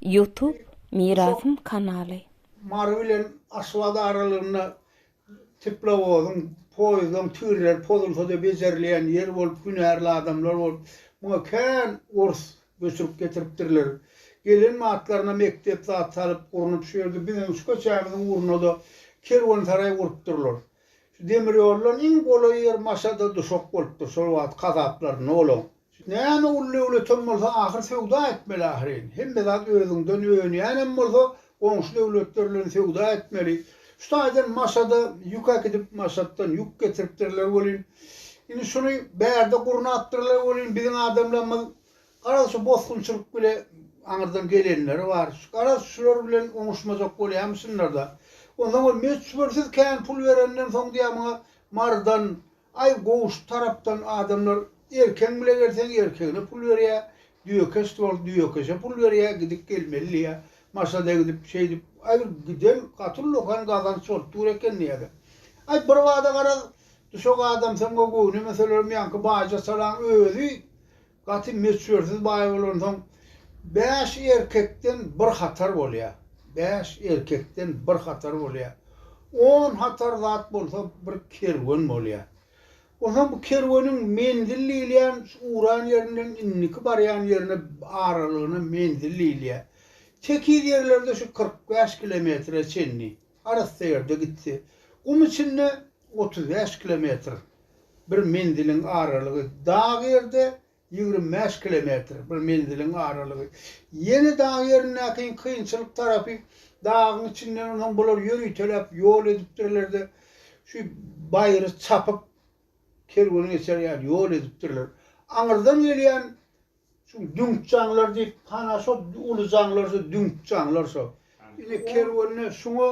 Ýutub Mirasym kanaly. Mary bilen Aşgabat aralygynda teplowozyň, poýuzdyň tirleri pozulsa-da bejerilýän ýer bolup, hünärli adamlar bolup, muňa kän ors göçürip getiripdirler. Gelen batlaryna mekdep zat salyp, gurnup, şu ýerde biziň şu köçämiziň ugruna-da kerwensaraý gurupdyrlar. Şu demir ýoldan iň golaý ýer Maşada duşak bolupdyr, şol wagt kazaplarynda olaň. Näme ul döwletem bolsa ahyr söwda etmeli ahyryn. Hemme zat özüňden önýänem bolsa goňşy döwletler bilen söwda etmeli. Şu taýdan Maşada ýük äkidip Maşatdan ýük getiripdirler welin, indi şuny bärde gurnapdyrlar welin biziň adamlarymyz garaz şu bosgunçylyk bile aňyrdan gelenleri bar. Garaz şular bilen oňuşmajak bolýamyşynlarda. Onsoň ol möçbersiz kän pul berenden soň diýýär muňa Marydan Aý gowy şu tarapdan adamlar erkeň bile gelseň erkegine pul berýä düýe keşt bol düýe keşe pul berýä gidip gelmeli diýä maşada gidip şeýdip aý bir giden gaty ullakan gazanç bolup dur eken diýäda aý birbada garaz düşek adamsyň we göwnemeselerem ýaňky baýja salaň özi Gaty möçbersiz baý bolansoň, bäş erkekden bir hatar bolýar. Bäş erkekden bir hatar bolýar. On hatar zat bolsa bir kerwen bolýar. Onsoň bu kerweniň menzil diýilýän şu uran ýerinden indiki barýan ýerine aralygyna menzil diýilýär. Tekiz ýerlerde şu kyrk bäş kilometre çenli. Arassaýerde gitse, gum içinde otuz bäş kilometr bir menziliň aralygy, dag ýerde ýigrimi bäş kilometr bir menziliň aralygy. Ýene dag ýerindäki kynçylyk tarapy, dagyň içinden onsoň bular ýöriteläp ýol edipdirler-de, şu baýry çapyp, kerwen geçer ýaly ýol edipdirler. Aňyrdan gelýän Şu düňk jaňlar diýip, hana şo uly jaňlar şo düňk jaňlar şo. Indi kerwende şuňa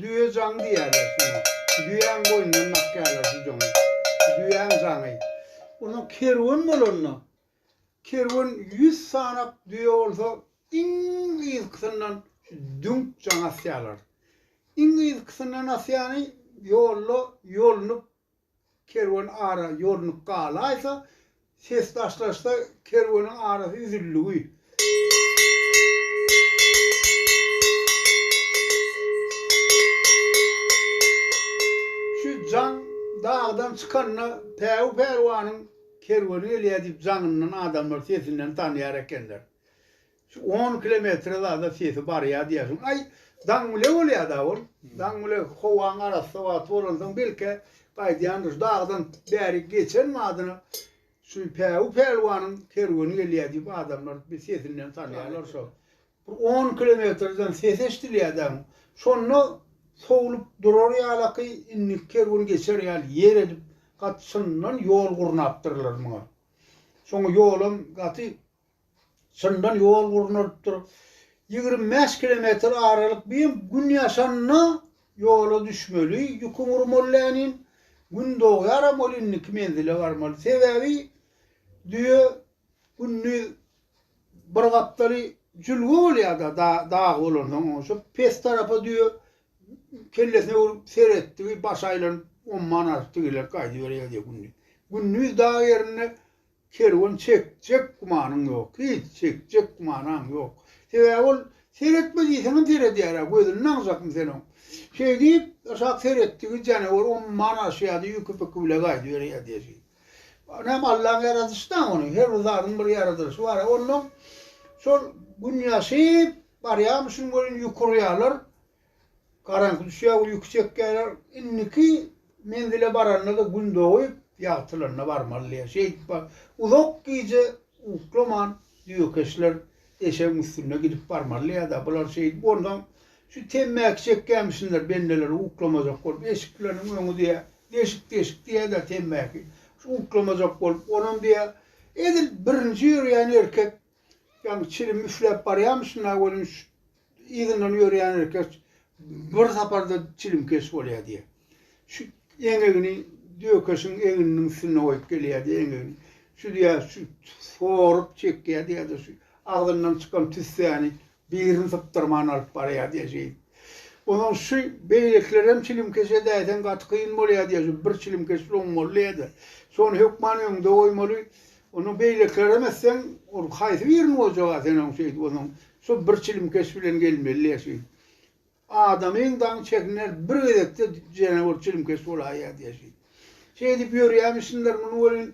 düýe jaň diýýärler şuňa. Düýäň boýnundan dakýarlar şu jaňy. Düýäň jaňy. Onda kerwen bolanda, kerwen ýüz sanap düýe bolsa, iň yzkysyndan şu düňk jaň asýarlar. Iň yzkysyndan asýany ýolda ýolunyp Kerwen ara ýolunyp galaýsa, ses daşlaşsa, kerweniň arasy üzüldigi. Şu jaň dagdan çykanda Päwü pälwanyň kerweni gelýär diýip jaňyndan adamlar sesinden tanaýar ekenler. Şu on kilometre zada sesi barýa diýersiň. Aý, daňmile bolýada ol. Daňmile howaň arassa wagty bolansoň belke gaýdýandyr. Şu dagdan bäri geçen badyna şu Päwü pälwanyň kerweni gelýä diýip adamlar bir sesinden tanýarlar şo. Bir on kilometreden ses eşdilýä däň. Şonda sowlup durar ýalaky indiki kerwen geçer ýaly ýer edip gaty çyndan ýol gurnapdyrlar muňa. Şoňa ýolam gaty Çyndan ýol gurnalypdyr. Ýigrimi bäş kilometr aralyk bu hem gün ýaşanda ýola düşmeli, ýükiň urmaly länin, gün dogýaram ol indiki menzile barmaly. Sebäbi düýe gündiz bir gapdaly jülge bolýar-da dag bolansoň oňa şu pes tarapa düýe kellesine urip seretdigi başy aýlanyp omman aryp digelip gaýdyberýär diýe gündiz. Gündiz dag ýerinde Kerwen çekjek gümanyň ýok, hiç çekjek gümanaň ýok. Sebäbi ol seretme diýseňem seredýär-ä, gözüni naňjakmy sen oň. Şeýdip, aşak seretdigi janawar omman aşýardy, ýüki-pyky bile gaýdyberýärdi eşi. Näme, Allaň ýaradyşy dam ony, her bir zadyň bir ýaradylyşy bar-a. Onnoň şol gün ýaşyp barýarmyşyn welin ýukurýarlar, Garaňky düşýär, uýky çekýärler. Indiki menzile baranda-da gün dogup, ýagtylanda barmalydyr. Şeýdip bar. Uzak gije uklaman düýekeşler eşegiň üstünde gidip barmalydyr-da, bular şeýdip onsoň şu temmäki çekýämişsinler bendeler uklamajak bolup, eşikleriniň öňi diýä, deşik-deşik diýä-de temmäki. Şu uklamajak bolup, onam diýä, edil birinji ýörýän erkek ýaňy çilim üfläp barýamyşyn-da, welin şu Yzyndan ýörýän erkek bir saparda çilimkeş bolýar diýýär. Şu eňegini dökeşiň egniniň üstünde goýup gelýär diýýär eňegini. Şu diýýär, şu sorup çekýär diýýär-de, şu agzyndan çykan tüssäni birini sypdyrman alyp barýar diýýär şeýdip. Onsoň şu beýlekiler hem çilimkeş edäýseň gaty kyn bolýar diýýär, şu bir çilimkeş lom boldy diýýär-de. Şony hökman öňde goýmaly, Onuň beýlekilerem etseň, ol haýsy birini boljag-a, sen oň şeýdip bolsaň, şo bir çilim keş bilen gelmeli-le şeýdip. Adamyň daň çekiner, bir gezekde jene bir çilim keş bolaýýar diýýär şeýdip. Şeýdip ýörýämişsinler muny welin,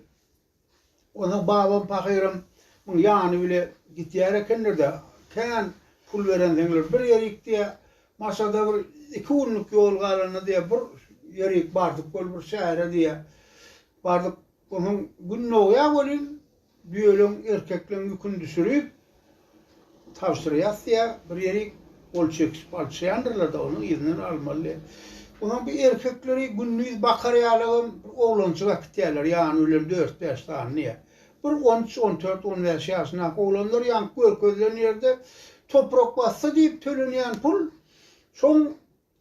onsoň babam pahyram muň ýany bile gidýär ekenler-de, kän pul berenseňler bir ýerik diýýär, Maşada bir iki günlük ýol galanda diýýär, bir ýerik bardyk weli bir şähere diýýär. Bardyk, Onuň gün dogýa welin düýeleň erkekleň ýüküni düşürip, tabşyr ýasýa, bir ýerik gol çekişip alşýandyrlar-da, onuň yzyndan almaly. Onuň bir erkekleri gündiz bakar ýalagam bir oglanjyk äkitýärler, ýany bilen dört-bäş sanyny. Bir on üç, on dört, on bäş ýaşyndaky oglanlar ýaňky görkezilen ýerde toprak bassa diýip tölenýän pul, şoň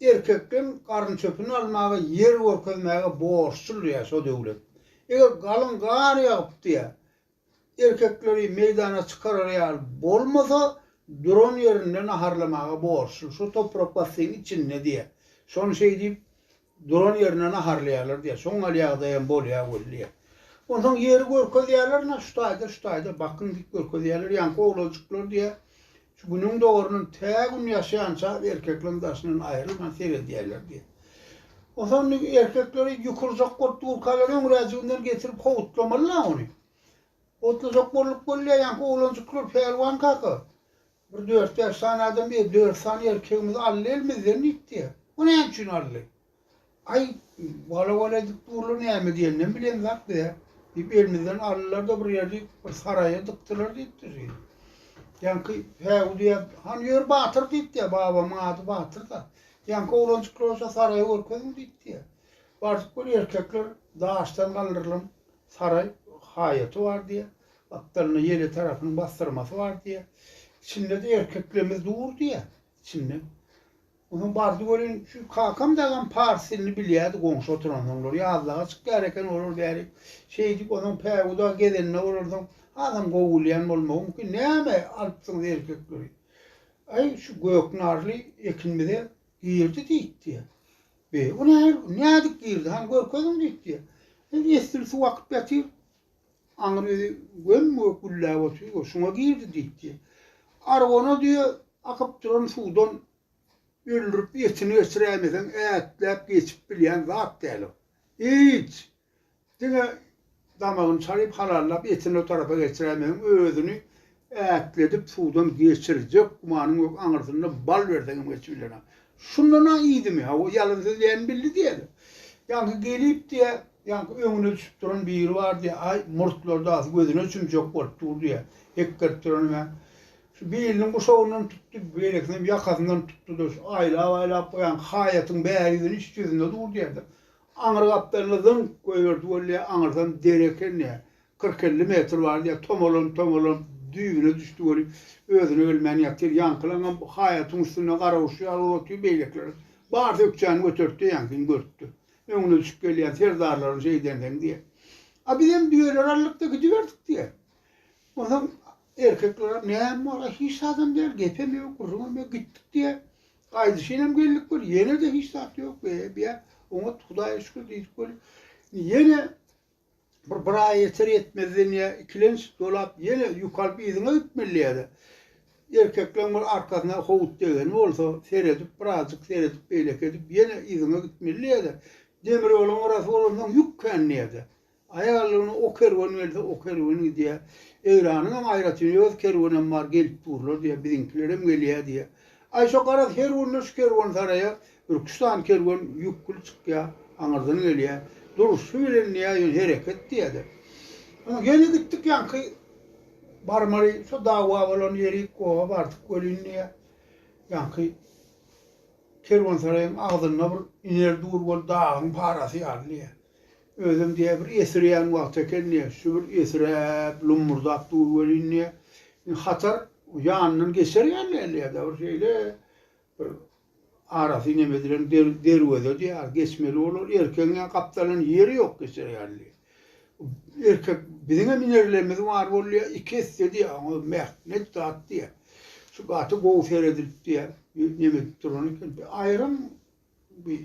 Erkek hem garynçöpüni almaga, ýer görkezmäge borçludyr diýýär şo döwlet. Eger galyň gar ýagyp diýýär, erkekleri meýdana çykarar ýaly bolmasa, duran ýerinde naharlamaga borçludyr. Şo toprak bassyň içinde diýýär. Şony şeýdip, duran ýerinde naharlaýarlar diýýär. Şoň ýaly ýagdaý hem bolýar weli diýýär. Onsoň ýeri görkezýärler, Ynha, şu taýda, şu taýda, bakyň diýip görkezýärler. Ýaňky oglajyklar diýýär, Şu Günüň dogaryndan tä Gün ýaşýança erkekleň daşyndan aýrylman seredýärler diýýär. Onsoň indi erkekleri ýukurjak bolup durkalar öňräjiginden getirip howutlamaly-la ony. Howutlajak bolup bolýar, ýaňky oglanjyklar Pälwan kaka, bir dört-bäş sany adam diýýär, dört sany erkegimizi aldy elimizden diýip diýýär. Bu näme üçin aldy? Aý, wala-wala edip durlar, näme diýenden bilen zat be. Diýip, elimizden aldylar-da, bir ýerli bir saraýa dykdylar, diýipdir. Ýaňky Häwu diýýär, Hany ýör batyr diýipdir, babamyň ady Batyr-da. Ýaňky oglanjyklar bolsa saraýy görkeziň diýipdir. Bardyk bir erkekler daşdan galdyrylan saraý haýaty bar diýýär. Gapdalynda ýele tarapynyň bassyrmasy bar diýýär. Içinde-de erkeklemiz dur diýýär içinde. Onuň bardy welin, şu kakam dagam pars dilini bilýärdi, goňşy oturan oňlar ýazlaga çykýar eken, olar bäri şeýdip, onsoň päwüda gezende bolarsyň, hasam gowy bilýän bolmagy mümkin, näme alypsyňyz erkekleri? Aý, şu Göknarly ekinimize girdi diýipdi. Be, o nähili, nädip girdi, hany görkeziň diýipdi. Esli suw akyp ýatyr. Aňry öýi göm-gök gülläp otyr-goý, şuňa girdi diýip diýýär. Argony diýýär, akyp duran suwdan öldürip, etini geçiräýmeseň, ätläp geçip bilýän zat däl ol. Hiç! Diňe damagyny çalyp, halallap, etini o tarapa geçiräýmeseň, özüni Ätledip suwdan geçirjek gumanyň ýok, aňyrsynda bal berseň hem geçip bilenok. Şundan-a iýdimi, hawa, ýalan sözleýänini bildi diýeli. Ýaňky gelip diýýä, ýaňky öňüne düşüp duran biri bar diýýä, aý, murtlary dagy gözüne çümjek bolup dur diýýä, hekgerip duran hem-ä. Şu biliniň guşagyndan tutdy, beýlekisinem ýakasyndan tutdy-da, şu aýlap-aýlap goýan haýatyň bäri ýüzüni iç ýüzünde dur diýýä-de, aňry gapdalynda zyňk goýberdi weli diýýä, aňyrsam deri eken diýýä. Kyrk-elli metr bar diýýär, tomalanyp-tomalanyp düýbüne düşdi welin, özüne gelmän ýatyr. Ýaňkylaňam haýatyň üstünde garaguşy ýaly bolup otyr, beýlekilerem. Barys ökjäni götertdi, ýaňkyny görüpdir. Öňüne düşüp gelýän serdarlaryň şeýdendigini diýýär. A bizem düýeleri aldyk-da gidiberdik diýýär. Onsoň erkeklerem näme bar-a, hiç zadam däl, gepem ýok, gürrüňem ýok, gitdik diýýär. Gaýdyşynam geldik welin, ýene-de hiç zat ýok, be-e diýýär. Oňat, Hudaýa şükür diýdik welin, ýene Bir bir aý ýeter ýetmezden ýa ikilenç dolap ýene ýük alyp yzyňa gitmeli ýa-da erkekleň bir arkasyna howut degeni bolsa seredip birazjyk seredip beýleki edip ýene yzyňa gitmeli ýa-da demir ýoluň gyrasy bolansoň ýük kän ýa-da aýallygyna o kerwen gelse o kerwen gidýä Eýranyň hem aýratyn öz kerwenem bar gelip durlar diýä biziňkilerem gelýä diýä aý şo garaz her günde şu kerwensaraýa Ürküş sany kerwen ýükgül çykýar, aňyrdan gelýär. Durşy bilen diýýär, ýöne hereket diýýädä. Oňa ýene gitdik, ýaňky barmaly şo dawa bolan ýerik, goha bardyk welin diýýär, ýaňky kerwensaraýyň agzynda bir iner dur bol dagyň parasy ýaly diýýär. Özem diýýär, bir esirýän wagty eken diýýär, şu bir esiräp, lummurdap dur welin diýýär. Hatar ýanyndan geçer ýaly däl diýýär-de, bir şeýle Bir arasy inem edilen derweze diýýär, geçmeli bolar. Erkegiň ýa gapdalan ýeri ýok geçer ýaly. Erkek biziň hem inerlerimiz bar bolýar, iki esse diýýär, oňa mähnet zat diýýär. Şu gaty gowy seredilip diýýär, inem edip duran eken. Aýram bir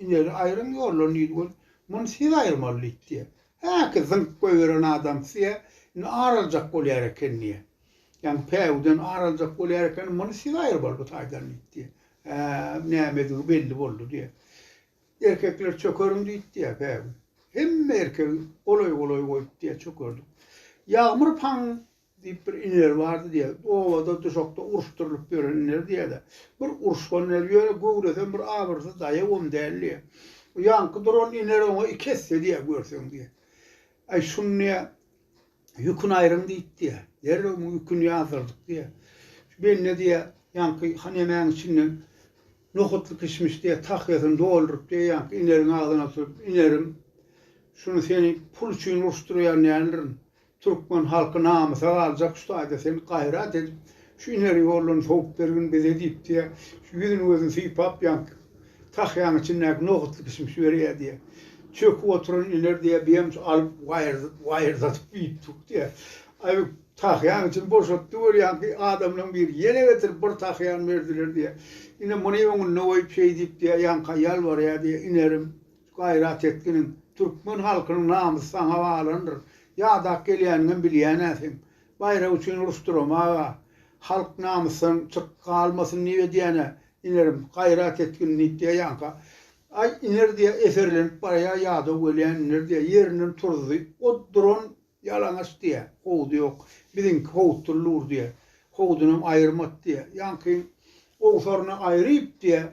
Iner aýryň ýollan diýdi ol. Muny siz aýyrmaly diýdi diýýär. Häki zyňyp goýberen adam size indi ar aljak bolýar eken diýýär. Ýaňy päwüden ar aljak bolýar eken, muny siz aýyrmaly bu taýdan diýdi diýýär. Hä-ä, nämedigi belli boldy diýýär. Erkekler çökeriň diýdi diýýär päwü. Hemme erkegi golaý-golaý goýup diýýär çökerdik. Ýagmyr paň Diýip bir iner bardy diýer. Obada, duşakda uruşdyrylyp ýören iner diýer-de. Bir uruşgan iner, ýöne göwresem bir abyrsyz daýawam däl diýer. O ýaňky duran iner oňa iki esse diýer görseň diýer. Aý, şuny diýer, ýüküni aýryň diýip diýer. Derrew muň ýüküni ýazdyrdyk diýer. Şu bende diýer, ýaňky hanemäň içinden nohutly kişmiş diýer, tahýasyny dolduryp diýer, ýaňky ineriň agzyna tutup, Inerim, şuny seni pul üçin uruşdyrýan däldirin. Türkmen halky namysa galjak şu taýda sen gaýrat edip şu ineri ýollan sowup bergin bize diýip diýä şu ýüzün gözün sypap ýaňky tahýaň içindäki nohutly kişmiş berýä diýä çöküp oturan iner diýä biem şu alyp waýyrdatyp iýip dur diýä aý tahýaň içini boşatdy weli ýaňky adamlaň biri ýene getirip bir tahýan berdiler diýä ine muny öňünde goýup şeý diýip diýä ýaňka ýalbarýa diýä inerim Gaýrat etginiň, türkmen halkynyň namysy saňa balandyr. Ýadap gelýäniňem bilýän-ä seň. Baýrak üçin uruş durama-a. Halk namysdan çyk galmasyn diýip edýän-ä, inerim. Gaýrat etgin diýip diýýänkä. Aý, iner diýýä, eserlenip barýa, ýadaw gelýän iner diýýä. Ýerinden turuzdy. O duran ýalaňaç diýýä. Howdy ýok. Biziňki howutdyr lur diýýä. Howdunam aýyrmat diýýä. Ýaňky gowsaryny aýryp diýýä.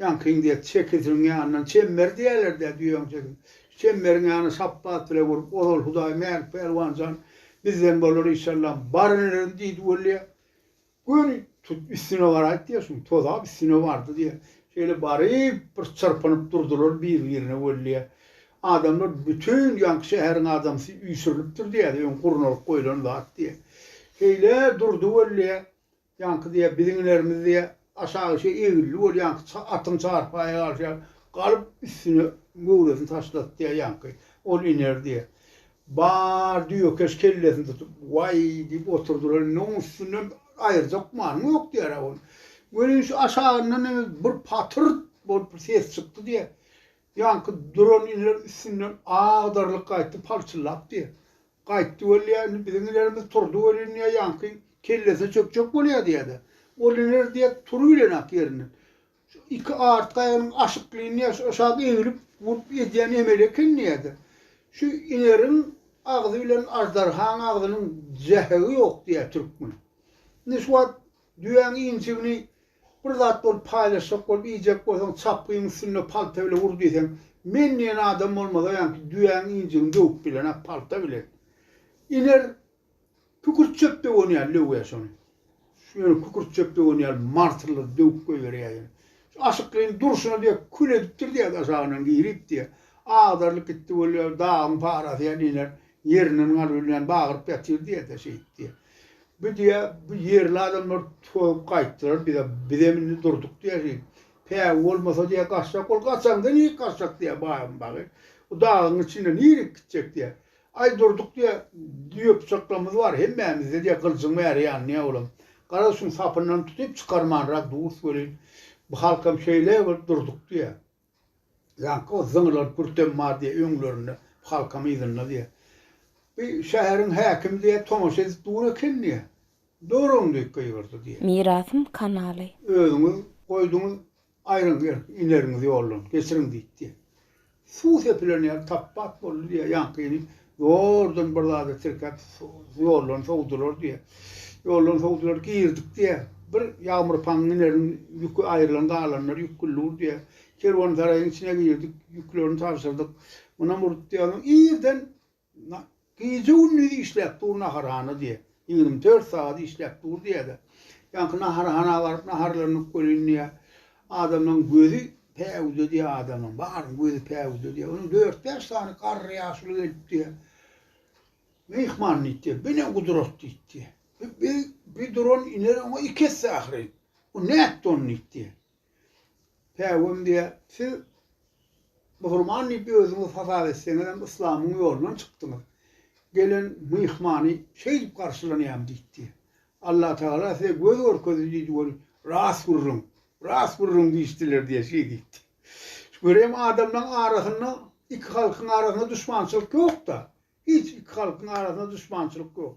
Ýaňkyň diýýär, çekisiniň ýanyndan çemmer diýerler-dä düýäň çekisine. Şu çemmeriň ýanyny sapbat bile gurup, Ozal Hudaý Mälik Pälwan jan bizden bolar işallam, baryn ederin diýdi weli, gör, tut üstüne baraýt diýýär, şuň tozap üstüne bardy diýýär. Şeýle baryp, bir çyrpynyp durdular bir-birine weli, adamlar bütin ýaňky şäheriň adamsy üýşürilipdir diýýär, öň gurnalyp goýlan zat diýýär. Şeýle durdy weli, Ýaňky diýýär, biziň ilerimiz diýýär, aşagy şu egilli bolýanky ça atyň çarpaýa galyşy ýaly, galyp üstüne göwresini taşlasy diýýär ýaňky, ol iner diýýär. Bar düýekeş kellesini tutup, Waý! diýip oturdylar. Indi oň üstünden aýyrjak manyň ýok diýýär-ä ol. Welin şu aşagyndan indi bir patyrt bolup bir ses çykdy diýýär. Ýaňky duran iner üstünden agdarlyp gaýtdy, palçyllap diýýär. Gaýtdy weli, biziň ilerimiz turdy welin, ýaňky kellesine çökjek bolýar diýýär-de. Ol iner diýýär, turubilenak ýerinden. Şu iki artky aýagynyň aşyklyny aşak eňilip, urp edýän emeli eken diýýär-de. Şu ineriň agzy bilen aždarhaň agzynyň zähegi ýok diýýär türkmen. Indi şu wagt Düýäň inçigini bir zat bolup paýlaşjak bolup iýjek bolsaň çapgyň üstünde palta bile ur diýseň men diýen adam bolmaz öýanki düýäň injigini döwüp bilenok palta bilen iner kükürt çöp döwen ýaly döwýä şony ýöne kükürt çöp döwen ýaly martyrlady döwüp goýberýä ýöne şu aşyklyň durşuna diýe kül edipdir diýe gaşagyndan girip diýe agdarylyp gitdi bolýa dagyň parasy ýaly iner ýerinden galybilmän bagyryp ýatyr diýe de şeýip diýe Bu diýýä, bu ýerli adamlar soýup gaýtdylar bize, bizem indi durduk diýýä şeýdip. Pägi bolmasa diýýä, gaçjak bol, gaçaňda nirä gaçjak diýýä, baýam bagy. Bu dagyň içinde nirä gitjek diýýä. Aý durduk diýýä, düýe pyçaklarymyz bar hemmämizde diýýä, gylyjyň bäri ýanýa olam. Gara şuň sapyndan tutyp çykarmanrak durus welin, bu halkam şeýle bolup durduk diýýä. Ýaňky o zyňylan kürtem bar diýýä öňlerinde, halkam yzynda diýýä. Bi şäheriň häkimi diýýä tomaşa edip dur eken diýýä. Durun diýip gygyrdy diýýä. Mirasym kanaly. Özüňiz goýduňyz, aýryň ger, ineriňiz ýoldan, geçiriň diýip diýýä. Suw sepilen ýer tap-bat boldy diýýä, ýaňky inim Zordan bir zada tirkäp, ýoldan sowdular diýýär. Ýoldan sowdular, girdik diýýär. Bir ýagmyr paňňy inerin, ýüki aýrylan galanlar ýük güllugur diýýär. Kerwensaraýyň içine girdik, ýüklerini tabşyrdyk. Munam urup diýýär. Irden gije-gündiz işläp dur naharhana diýýär. Ýigrimi dört sagat işläp dur diýýär-de. Ýaňky naharhana baryp naharlanyp welin diýýär. Adamlaň gözi päwüde diýýär, adamlaň baryň gözi päwüde diýýär. Onuň dört-bäş sany garry ýaşuly gelip diýýär. Myhman diýip diýýär, bu ne gudrat diýip diýýär. Bu bir duran iner oňa iki esse ahyryn. Bu nätdi ony diýip diýýär. Päwüm diýýär, siz musulman diýip özüňizi hasap etseňizem yslamyň ýolundan çykdyňyz. Gelen myhmany şeýdip garşylanýarmy diýip diýýär. Allah Tagala size göz görkezdi diýdi we Rast gürrüň, rast gürrüň diýişdiler diýen şeýdi etdi. Görem adamlaň arasynda iki halkyň arasynda duşmançylyk ýok-da. Hiç iki halkyň arasynda duşmançylyk ýok.